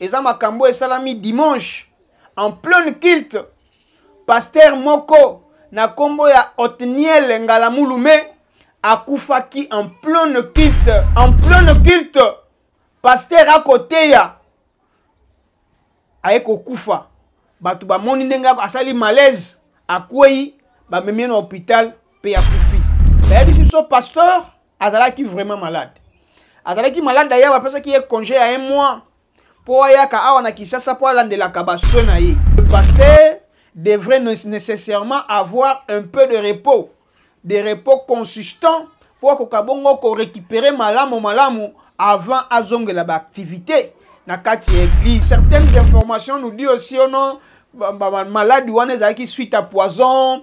eza makambo esalami dimanche en pleine culte pasteur moko na kombo ya otniel ngalamulume akufaki en pleine culte en pleine culte pasteur akoteya aye kokufa bato bamoni ndenge asali malaise akwei bamemi na hôpital mpe akufi bayebisi biso pasteur azalaki vraiment malade azalaki malade d'ailleurs bapesaki ye congé ya un mois mpo ayaka awa na kinshasa mpo alandelaka basoin na ye le pasteur devrait nécessairement avoir un peu de repos de repos consistant mpo akoka bongo korécupere malamu malamu avant azongela baactivité na kati ya église certaines informations nous dit aussi ono oh maladi wana ezalaki suite à poison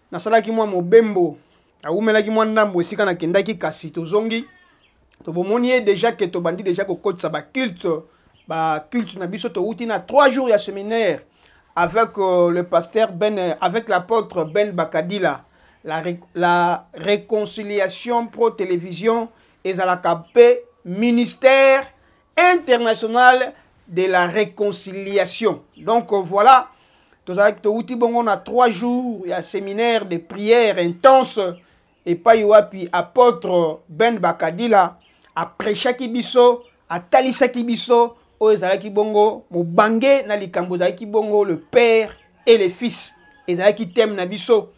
nasalaki mwa mobembo awumelaki mwa ndambo esika nakendaki kasi tozongi tobomoni ye deja ke tobandi deja kokotisa baculte baculte na biso towuti na trois jours ya séminaire avec euh, le pasteur ben euh, avec l'apôtre ben bakadila la, la réconciliation pro télévision ezalaka mpe ministère international de la réconciliation donc euh, voilà tozalaki towuti bongo na trois jours ya séminaire de prière intense epai wapi apôtre ben bakadila aprechaki biso atalisaki biso oyo ezalaki bongo mobange na likambo ezalaki bongo le père et le fils ezalaki teme na biso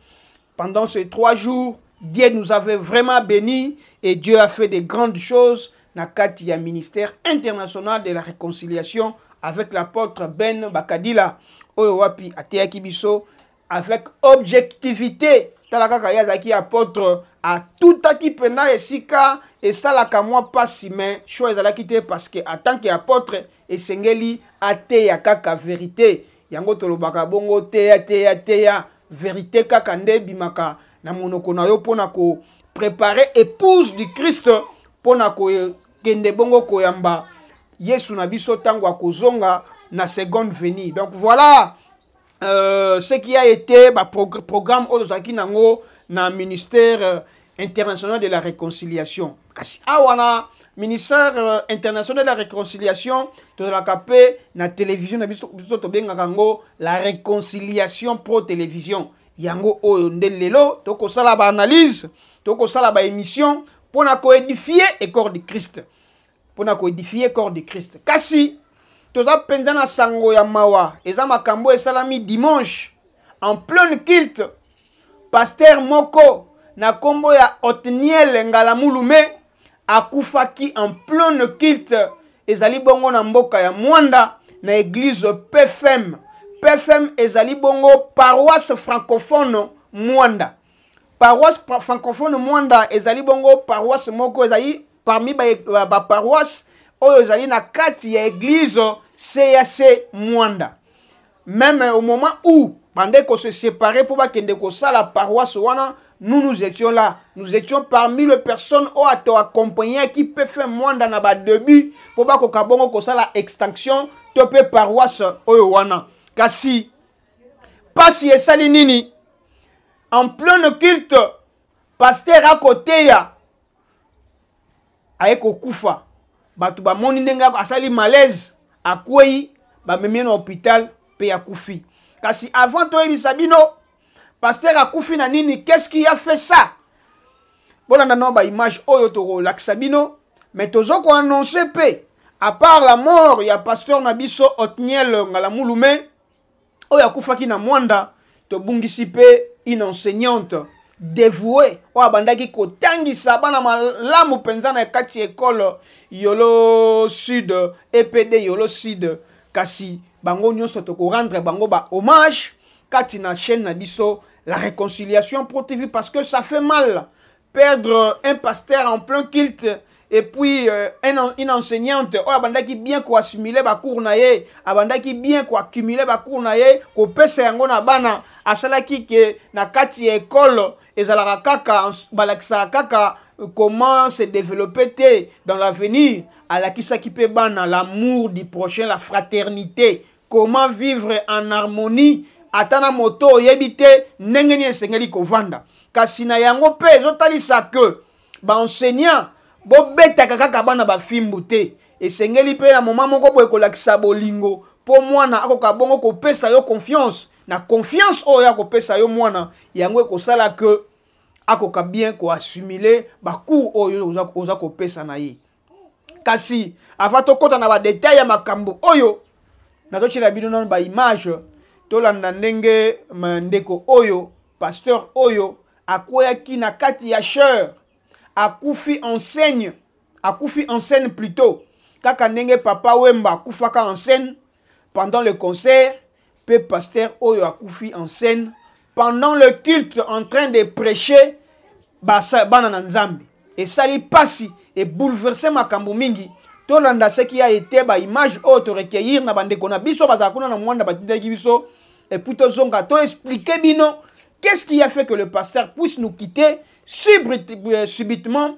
Pendant ces trois jours, Dieu nous avait vraiment bénis et Dieu a fait de grandes choses na kati ya ministère international de la réconciliation avec l'apôtre Ben Bakadila oyo wapi ateyaki biso avec objectivité tala kaka ye azalaki apôtre atutaki mpena esika esalaka mwa mpasi me sho ezalaki te parce que en tant que apôtre esengeli ateya kaka verité yango tolobaka bongo teya teya teya verite kaka nde ebimaka na monoko na yo mpo na koprepare épouse du christ mpo na kokende bongo koyamba yesu na biso ntango akozonga na seconde venue donc voilà euh, ce qui a été baprogramme oyo tozalaki nango na ministère euh, international de la réconciliation kasi awa na ministère euh, international de la réconciliation tozalaka mpe na télévision na biso biso tobengaka yango la réconciliation pro télévision yango oyo nde lelo tokosala baanalyse tokosala baémission mpo na koédifie ecor du christ mpo na koedifie corps de christ kasi toza mpenza na sango ya mawa eza makambo esalami dimanche en pleine culte paster moko na nkombo ya otniel ngalamulume akufaki en pleine culte ezali bongo na mboka ya mwanda na eglize pfm pfm ezali bongo paroisse francophone mwanda paroisse francophone mwanda ezali bongo paroisse moko ezali parmi baparoisse ba oyo ezali na kati ya eglise cac mwanda meme au moment où bandai kose séparer mpo bakende kosala paroisse wana nous nous étions là nous étions parmi les personnes oyo ato accompagnaki pfe mwanda na badebut mpo bakoka bongo kosala extinction to mpe paroisse oyo wana kasi pasi esali nini en pleine culte pasteur akoteya aye kokufa bato bamoni ndenge asali malaise akwei bamemi ye na hôpital mpe akufi kasi avant toyebisa bino pasteur akufi na nini qu'est-ce qui a fait ça bolanda nao baimage oyo tokolakisa bino me tozo koannonce mpe apart la mort ya pasteur na biso otniel ngalamulume oyo akufaki na mwanda tobungisi mpe une enseignante devoue oyo abandaki kotangisa bana malamu mpenza na kati ya ekole yolo sud epd yolo sud kasi bango nyonso tokorendre bango ba hommage kati na chaîne na biso la réconciliation pro tv parce que ça fait mal perdre un pasteur en plein culte et puis euh, un, une enseignante oyo abandaki bien koassimile bacours na ye abandaki bien koaccumule bacours na ye kopesa yango na bana asalaki ke na kati ya ekole ezalaka kaka balakisaka kaka euh, comment se développer te dans l'avenir alakisaki mpe bana l'amour du prochain la fraternité comment vivre en harmonie ata na moto oyebi te ndenge nini esengeli kovanda kasi na yango mpe ezotalisa ke baenseignant bobetaka kaka bana bafimbu te esengeli mpe na moma moko boye kolakisa bolingo mpo mwana akoka bongo kopesa yo confiance na confiance oyo akopesa yo mwana yango ekosala ke akoka bien koassimile bacours oyo oza kopesa na ye kasi avant tokɔta na badetail ya makambo oyo nazotyela bino nano baimage tolanda ndenge ndeko oyo pasteur oyo akweyaki na kati ya chere akufi enseigne akufi enseigne plutôt kaka ndenge papa wemba akufaka enseigne pendant le concert pe pasteur oyo akufi en scène pendant le culte en train de prêcher basa- bana na nzambe esali pasi ebouleverse makambo mingi tolanda seki ya ete baimage oyo torekeir na bandeko na biso bazala kuna na mwanda batindaki biso epuis tozonga toexplike bino qu'est ce qui a fait que le pasteur puisse nous quitter subrit- euh, subitement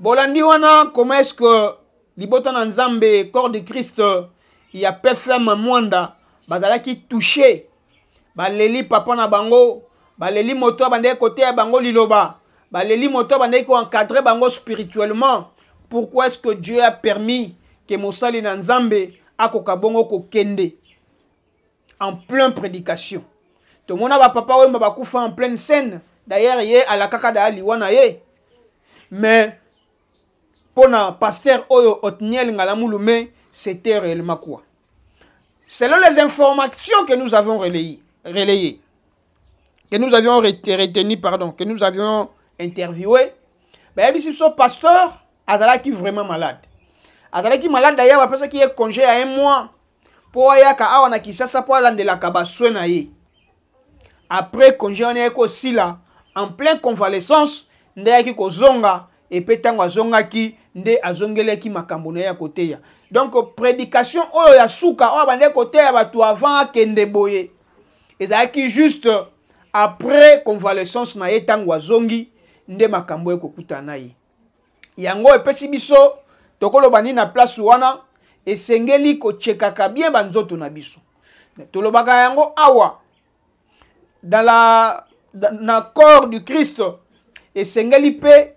bolandi wana comment est-ce que libota na nzambe corps de christ ya pfm mwanda bazalaki touche baleli papa na bango baleli moto abandaki koteya bango liloba baleli moto abandaki koencadre bango spirituellement pourquoi est-ce que dieu a permis ke mosali na nzambe akoka bongo kokende en plein prédication tomona bapapa wemba bakufa en pleine scène d'ailleurs ye alakaka daya liwa na ye mais mpo na pasteur oyo otniel ngalamulume c'était réellement quoi selon les informations que nous avons relayées, relayées que nous avions retenu pardon que nous avions interviewé bayebisi biso pasteur azalaki vraiment malade azalaki malade d'ailleurs bapesaki ye congé ya un mois mpo ayaka awa na kisasa mpo alandelaka baswe na ye après congé wana yaki kosila en plein convalescence nde ayaki kozonga epe ntango azongaki nde azongelaki makambo na ye ya koteya donc prédication oyo ya suka oyo abandaki koteya bato avant akende boye ezalaki juste après convalescence na ye ntango azongi nde makambo ekokutana na ye yango epesi biso tokoloba nini na place wana esengeli kotyekaka bien banzoto na biso tolobaka yango awa dans la, na corps du christ esengeli mpe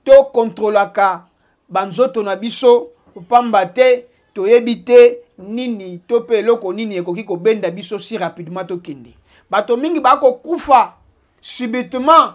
tokontrolaka banzoto na biso mpamba te toyebi te nini to mpe eloko nini ekoki kobenda biso si rapidement tokende bato mingi bakokufa subitement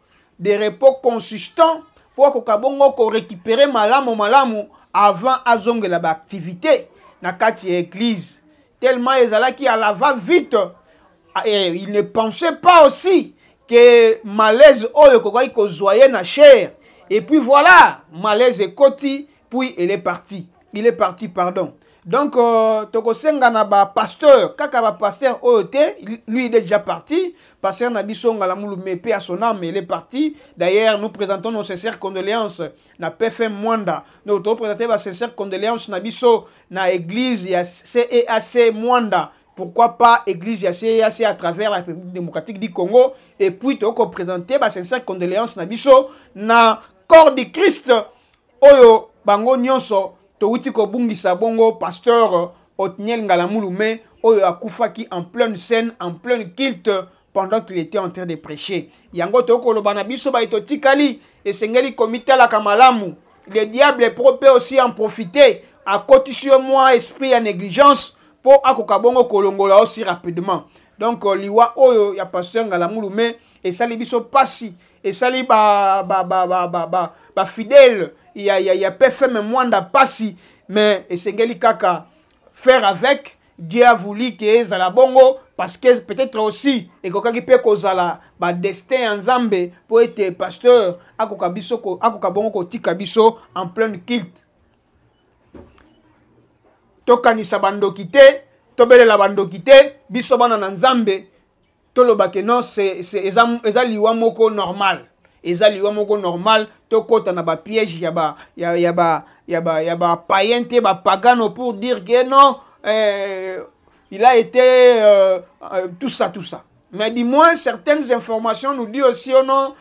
de repos consistant mpo akoka bongo korekipere malamu malamu avant azongela baaktivité na kati ya eglize tellement ezalaki à la va vite et il ne pensait pas aussi que malaise oyo ekokaki kozwa ye na chair et puis voilà malaise ekoti puis elle est partie il est parti pardon donc euh, tokosenga na bapasteur kaka bapasteur oyo te lui il est déjà parti pasteur na biso ngalamulu mepe à son âme il est parti d'ailleurs nous présentons nos sincères condoléances na pfm mwanda donc tokopresente basincères condoléances na biso na église ya ceac mwanda pourquoi pas église ya CEAC à travers la République démocratique du Congo et puis toko présenter ba sincère condoléances na biso na corps du Christ oyo bango nyonso towuti kobungisa bongo pasteur Otniel Ngalamulu mais oyo akufaki en pleine scène en pleine culte pendant qu'il était en train de prêcher yango tokoloba na biso baye totikali esengeli komitalaka malamu le diable pro pe aussi en profiter akotisi yo mwa esprit ya négligence po akoka bongo kolongola aussi rapidement donc euh, liwa oyo ya pasteur ngalamulu me esali biso pasi esali ba ba ba ba ba ba, ba fidèle ya ya ya PFM Mwanda pasi mais esengeli kaka faire avec Dieu a voulu que ezala bongo parce que peut-être aussi ekokaki mpe kozala ba destin ya Nzambe mpo ete pasteur akoka biso ko, akoka bongo kotika biso en pleine culte tokanisa bandoki te tobelela bandoki te biso bana na Nzambe toloba ke non eza, eza liwa moko normal eza liwa moko normal tokɔta na bapiège ya ba ya, ya ba ya ba ya ba païen te bapagano pour dire que non euh, il a été euh, euh, tout ça tout ça mais du moins certaines informations nous dit aussi oh non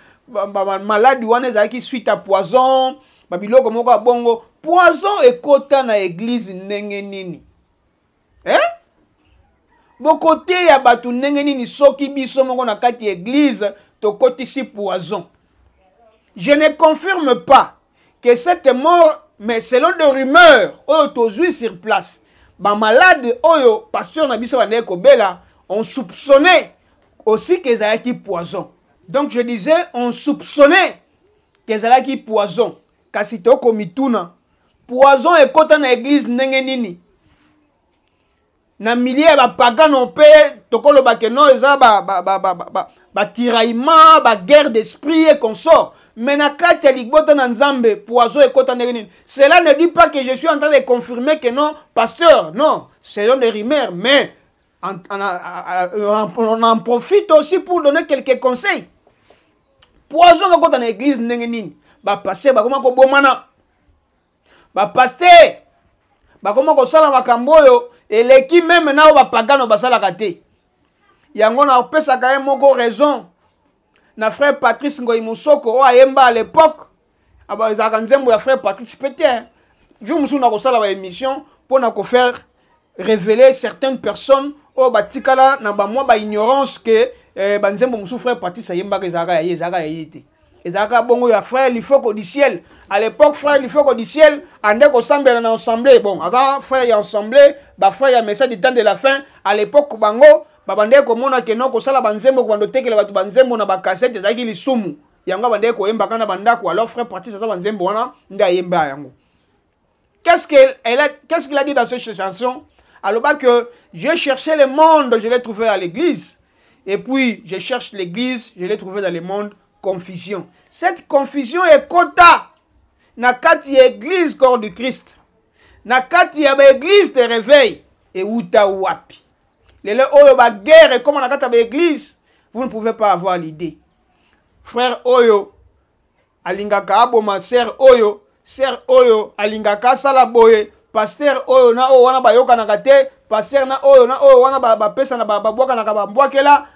maladi wana ezalaki suite à poison babiloko moko ya bongo poison ekota na eglize ndenge nini eh? bokoteya bato ndenge nini soki biso moko na kati ya eglize tokotisi poison je ne confirme pas que cette mort mais selon de rumeur oyo tozwi sur place bamalade oyo pasteur na biso bandaki kobela on soupçonnait aussi que ezalaki poison donc je disais on soupçonnait que ezalaki poison kasi tokomituna poison ekota na eglise ndenge nini na milie ya bapagano mpe tokoloba ke no eza batiraillement baguerre d'esprit e consort mais na kati ya ligbota na nzambe poison ekota ndenge nini cela ne dit pas que je suis en train de confirmer que non pasteur non ce sont des rumeurs mais on en profite aussi pour donner quelques conseils poison kakota na eglise ndenge nini bapaster bakoma kobomana bapaster bakoma kosala makambo oyo eleki meme na oyo bapagano basalaka te yango napesaka ye moko raison na frère patrice ngoi mosoko oyo ayemba à l'époque aba ah ezalaka nzembo ya frère patrice pe te jour mosusu nakosala baémission mpo na kofaire révéler certaines personnes oyo oh, batikala na bamwa baignorance ke eh, banzembo mosusu frère patrice ayembaka ezalaka ya ye ezalaka ya ye te ezalaka bongo ya frère lifoko du ciel à l'époque frère lifoko du ciel ande kosambela na ensemble bon aza frère ya ensemble bafrère ya message du temps de la fin à l'époque bango babandaki komona ke no kosala banzembo kobanda otekela bato banzembo na bakasete ezalaki lisumu yango abandaki koyemba kaka na bandako alors frère pratis aza banzembo wana nde ayemba yango qu'est-ce qu'il qu a dit dans cette chanson aloba que je cherchais le monde je l'ai trouvé à l'église et puis je cherche l'église je l'ai trouvé dans le monde confusion cette confusion ekota na kati ya église corps du christ na kati ya baeglise de réveil euta wapi lelo oyo baguerre ekoma na kati ya baeglise vous ne pouvez pas avoir l'idée frère oyo alingaka aboma sere oyo sere oyo alingaka asala boye pastere oyo na oyo wana bayokanaka te pastere na oyo na oyo wana bapesana babwakanaka bambwakela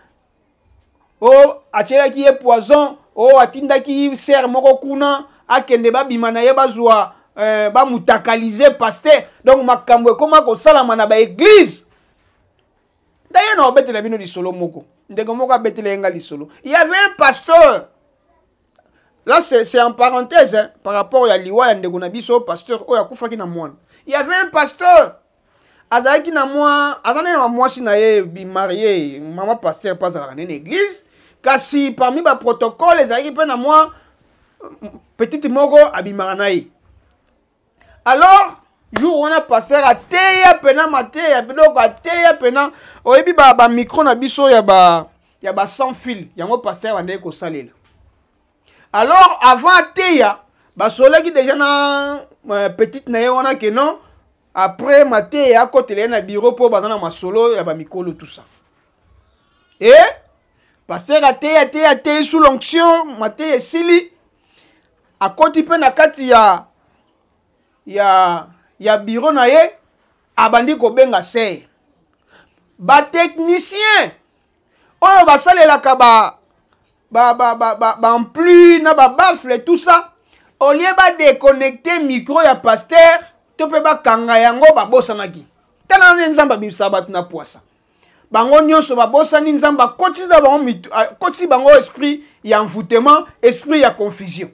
o oh, atyelaki ye poison o oh, atindaki sere moko kuna akende babima na ye bazwa eh, bamutakalize pastere donc makambo ekoma kosalama na baeglize D'ailleurs, na obetela bino lisolo moko. Ndeko moko abetela yenga lisolo. Il y avait un pasteur. Là, c'est en parenthèse hein, par rapport à liwa ya ndeko na biso pasteur oyo akufaki na mwana. Il y avait un pasteur. azalaki na mwa aza nene na mwasi na ye bimarie mama pasteur mpe azalaka nene église kasi parmi baprotocole ezalaki mpe na mwa petite moko abimaka na ye alors jour wana pasteur ateya mpena mateya biloko ateya mpena oyebi bamicro ba na biso ya ba ya ba sans fil yango pasteur abandaki kosalela alors avant ateya basolaki deja na euh, petite na ye wana ke non après mateya akotela ye na biro mpo baza na masolo ya bamikolo tout ça e pasteur ateya ateya ateyi sous l'onction mateya esili akoti mpe na kati ya ya ya biro na ye abandi kobenga seye batechnicien oyo basalelaka ba ba ba ba ba ba ampli na ba bafle tout ça au lieu ba déconnecter micro ya pasteur to mpe bakanga yango babosanaki tala nde nzambe abimisa bato na pwasa bango nyonso babosani nzambe akotisi na bango akotisi bango esprit ya envoûtement esprit ya confusion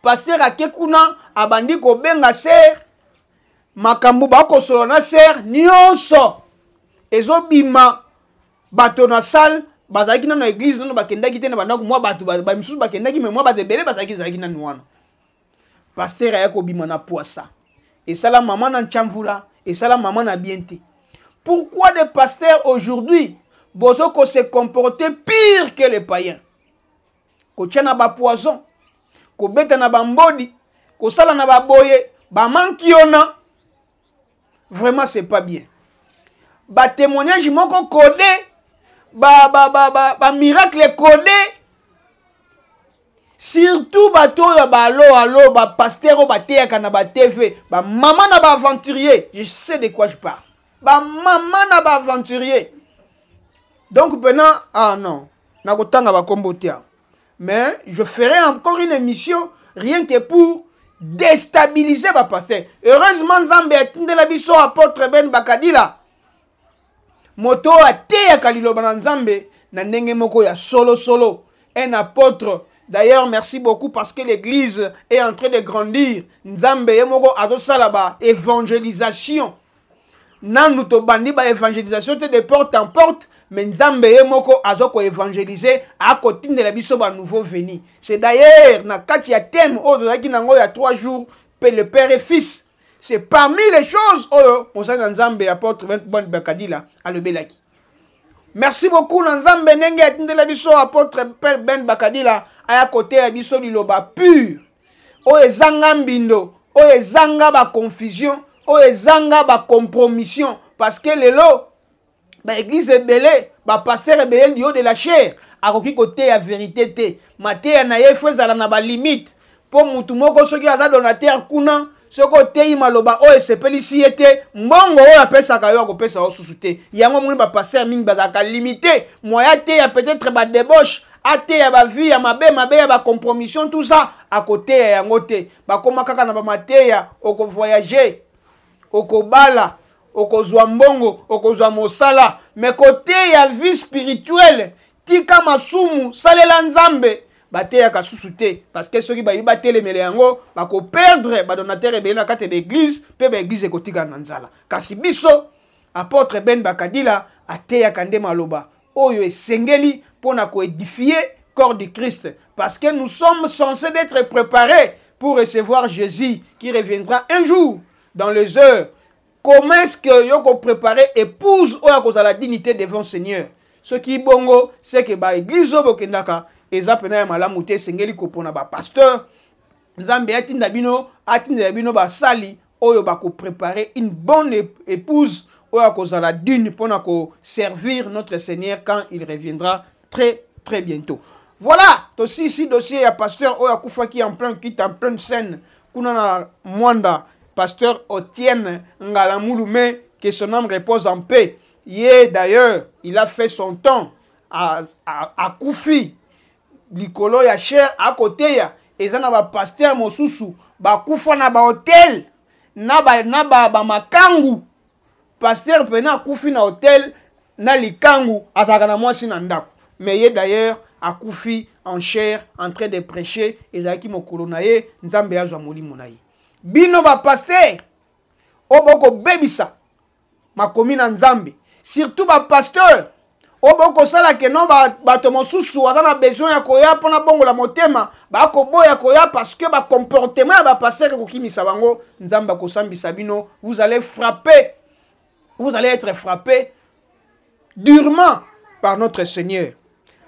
paster ake kuna abandi kobenga ser makambo bakosolola na ser nyonso ezobima bato na salle bazalaki nano na eglize nano bakendaki te na bandako mwa bato bamisusu bakendaki me mwa bato ebele bazalaki ezalaki nano wana pasteur aya kobima na poisa esala mama na nchamvula esala mama na bien te pourquoi des pasteurs aujourd'hui bozo ko se comporter pire que les païens kotya na bapoison kobeta na bambodi kosala na baboye bamankiona vraiment c'est pas bien ba témoignage moko code ba ba ba ba, ba miracle code surtout bato oyo ba alo alo ba pasteur oyo bateyaka na ba tv ba mama na ba aventurier je sais de quoi je parle ba mama na ba aventurier donc pena ah non nakotanga bakombo te mais je ferai encore une émission rien que pour destabiliser bapasteur heureusement nzambe atindela biso apôtre ben bakadila moto oyo ateyaka liloba na nzambe na ndenge moko ya solosolo solo. un apôtre D'ailleurs, merci beaucoup parce que l'église est en train de grandir. Nzambe yemoko azosala ba évangélisation. nanu tobandi ba evangelisation te de porte en porte mais nzambe ye moko azo ko évangéliser akotindela biso ba nouveau veni c'est d'ailleurs na kati ya thème oyo tozalaki nango ya 3 jours pe le père et fils c'est parmi les choses oyo mosali na nzambe apôtre ben bakadila alobelaki merci beaucoup na nzambe ndenge atindela biso apôtre ben bakadila aya koteya biso liloba pure oyo ezanga mbindo oyo ezanga baconfusion oyo ezanga bacompromission parce que lelo baeglize ebele bapastere ebele liyo de la chair akoki koteya verite te mateya na ye fo ezala na balimite mpo motu moko soki aza donatere kuna soki oteyi maloba oyo esepelisi ye te mbongo oyo apesaka yo akopesa yo susu te yango omoni bapaster mingi bazalaka limite moye ateya peut-être badebauche ateya bavie ya mabe mabe ya bacompromission tout ça akoteya yango te bakoma kaka na bamateya okovoyage okobala okozwa mbongo okozwa mosala me koteya vie spirituelle tika masumu salela nzambe bateyaka susu te parce que soki bayebi batelemela yango bakoperdre badonateur ebele na kati ya baeglize mpe baeglize ekotikala na nzala kasi biso apôtre ben bakadila ateyaka nde maloba oyo esengeli mpo na koedifie corps du christ parce que nous sommes censés d'être préparés pour recevoir jésus qui reviendra un jour dans les heures comment est-ce que yo ko préparer épouse oyo akozala dignité devant seigneur soki bongo seke ba église oyo bokendaka eza mpena ya malamu te esengeli kopona bapasteur nzambe atinda bino atindela bino basali oyo bakoprépare une bonne épouse oyo akozala dune mpo na koservir notre seigneur quand il reviendra très très bientôt voilà tosisi dossier ya pasteur oyo akufaki en plein kite en pleine scène kuna na mwanda pasteur otienne ngalamulu mais que son âme repose en paix ye d'ailleurs il a fait son temps akufi likolo ya cher akoteya eza na bapasteur mosusu bakufa na bahotel na bamakangu ba, na ba pasteur pena akufi na hotel na likangu azalaka na mwasi na ndako mais ye d'ailleurs akufi en chair en train de prêcher ezalaki mokolo na ye nzambe azwa molimo na ye bino bapastere oyo bokobebisa makomi na nzambe surtout bapasteur oyo bokosala ke no bato mosusu aza na besoin ya koya mpona bongola motema bakoboya koya parce que bacomportement ya bapastere kokimisa bango nzambe akosambisa bino vous allez frapper vous allez être frappé durement par notre seigneur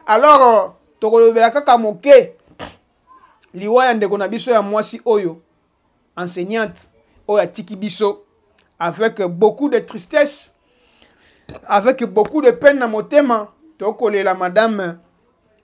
alors euh, tokolobela kaka moke liwa ya ndeko na biso ya mwasi oyo enseignante oyo atiki biso avec beaucoup de tristesse avec beaucoup de peine na motema tokolela madame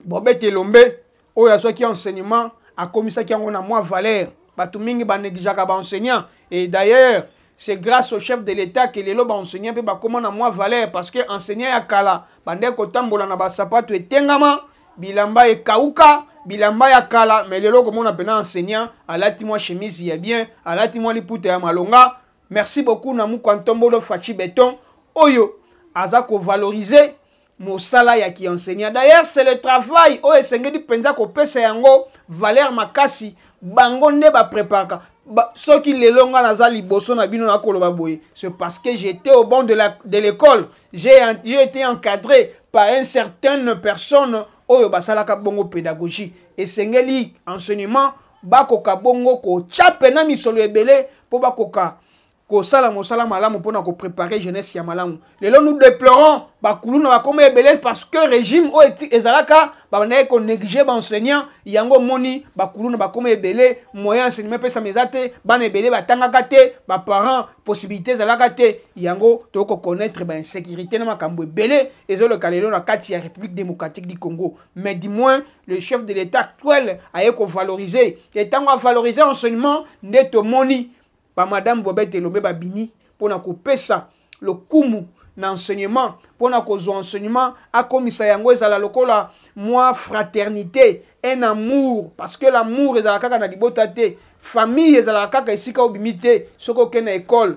bobete elombe oyo azwaki enseignement akomisaki yango na mwa valeur bato mingi baneglijaka baenseignant et d'ailleurs c'est grâce au chef de l'état que lelo baenseignant mpe bakoma na mwa valeur parce que enseignant ya kala bandaki kotambola na basapato etengama bilamba ekauka bilamba ya kala me lelo okomona mpena enseignant alati mwa chemise ya bien alati mwa liputa ya malonga merci beaucoup na mukwa ntombolo faci beton oyo aza kovalorize mosala ya ki enseignant d'ailleurs c'est le travail oyo esengeli mpenza kopesa yango valeur makasi bango nde bapreparaka ba, soki lelo ngai naza liboso na bino nakoloba boye c'est parce que j'étais au banc de, la, de l'école j'ai été encadré par une certaine personne oyo basalaka bongo pédagogie esengeli enseignement bakoka bongo kotya mpena misolo ebele mpo bakoka kosala mosala malamu mpo na koprepare jeunesse ya malamu lelo nous déplorons bakuluna bakoma ebele parce que régime oyo ezalaka babandaki konéglige baenseignant yango omoni bakuluna bakoma ebele moyen enseignement epesama eza te bana ebele batangaka te baparent possibilité ezalaka te yango tokoki koconnaître bainsécurité na makambo ebele ezoleka lelo na kati ya république démocratique du congo mais du moins le chef de l'état actuel aye kovaloriser etango avaloriser enseignement nde tomoni ba madame Bobette Elombe babimi pona kopesa lokumu na enseignement pona kozwa enseignement akomisa yango ezala lokola mwa fraternité un amour parce que l'amour ezalaka kaka na libota te famille ezalaka kaka esika obimi te soki okei na ekole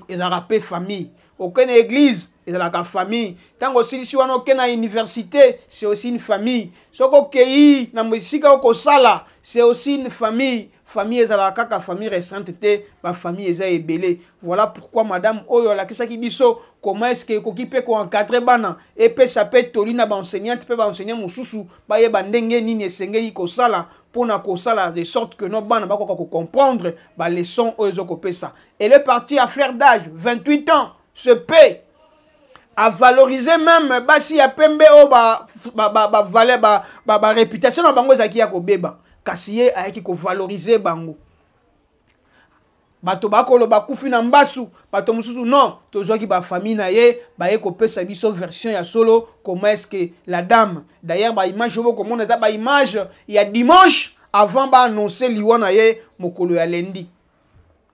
ezalaka mpe famille okei na eglise ezalaka famille ntango osilisi wana oke na université c'est aussi une famille soki okei na esika okosala c'est aussi une famille famille ezalaka kaka famille récente te bafamille eza ebele voilà pourquoi madame oyo alakisaki biso comment est ce que ekoki mpe koencadre bana epesa mpe toli na baenseignante mpe baenseignant mosusu bayeba ndenge nini esengeli kosala mpo na kosala de sorte que no bana bakoka kocomprendre baleçon oyo ezokopesa elle est partie à fleur d'age 28 ans se paye avalorize meme basi ya pembe oyo bavaleur ba, ba, ba, réputation na bango ezalaki ya kobeba kasi ye ayaki kovalorize bango bato bakoloba kufi na mbasu bato mosusu non tozwaki bafamille na ye baye kopesa biso version ya solo comment est ce que la dame d'ailleurs baimage oyo bokomona eza baimage ya dimanche avant baannonce liwa na ye mokolo ya lendi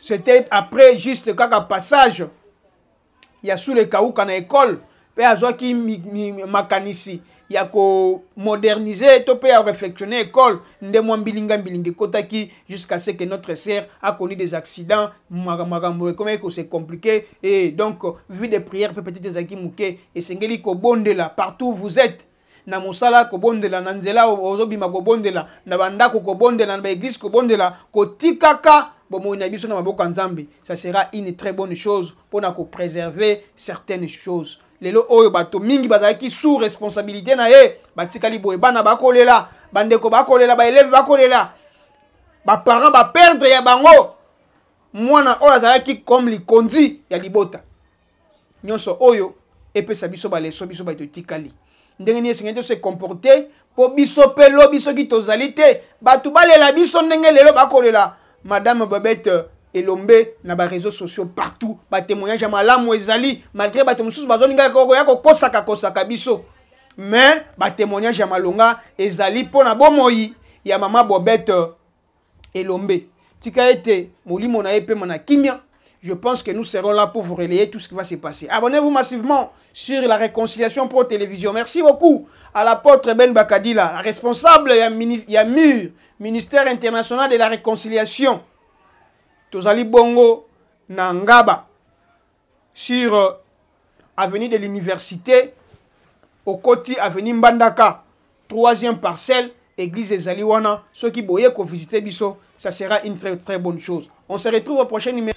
c'était après juste kaka passage ya sule kauka na ekole mpe azwaki makanisi ya komodernize to mpe ya réflexionne ekole nde mwa mbilinga mbilinga ekotaki jusqu'à ce que notre sœur akoni des accidents makambo ekomaki kose compliqué et donc vie de prière mpe peut-être ezalaki moke esengeli kobondela partout vous êtes na mosala kobondela na nzela ozobima kobondela na bandako kobondela na baeglise kobondela kotikaka bomoi na biso na maboko ya nzambe ça sera une très bonne chose mpo na kopréserver certaines choses lelo oyo bato mingi bazalaki sous responsabilité na ye batikali boye bana bakolela bandeko bakolela baeleve bakolela baparent baperdre ya bango mwana oyo azalaki comme likonzi ya libota nyonso oyo epesa biso baleso biso bato etikali ndenge nini esengeli tose comporte mpo biso mpe lobi soki tozali te bato balela biso ndenge lelo bakolela madame babete euh, elombe na bareseau sociaux partout batemoignage ya malamu ezali malgré bato mosusu bazolingaka koya kokosaka kosaka biso mais batemoignage ya malonga ezali mpo na bomoi ya mama bobete euh, Elombe. Tika ete molimo na epema na kimia. Je pense que nous serons là pour vous relayer tout ce qui va se passer. Abonnez-vous massivement sur la Réconciliation Pro Télévision. Merci beaucoup à l'apôtre Ben Bakadila, responsable ya, mini, ya MUR, Ministère International de la Réconciliation. Tozali Bongo Nangaba. sur euh, avenue de l'université okoti avenue mbandaka troisième parcelle église ezali wana soki boye kovisite biso ça sera une très très bonne chose on se retrouve au prochain numéro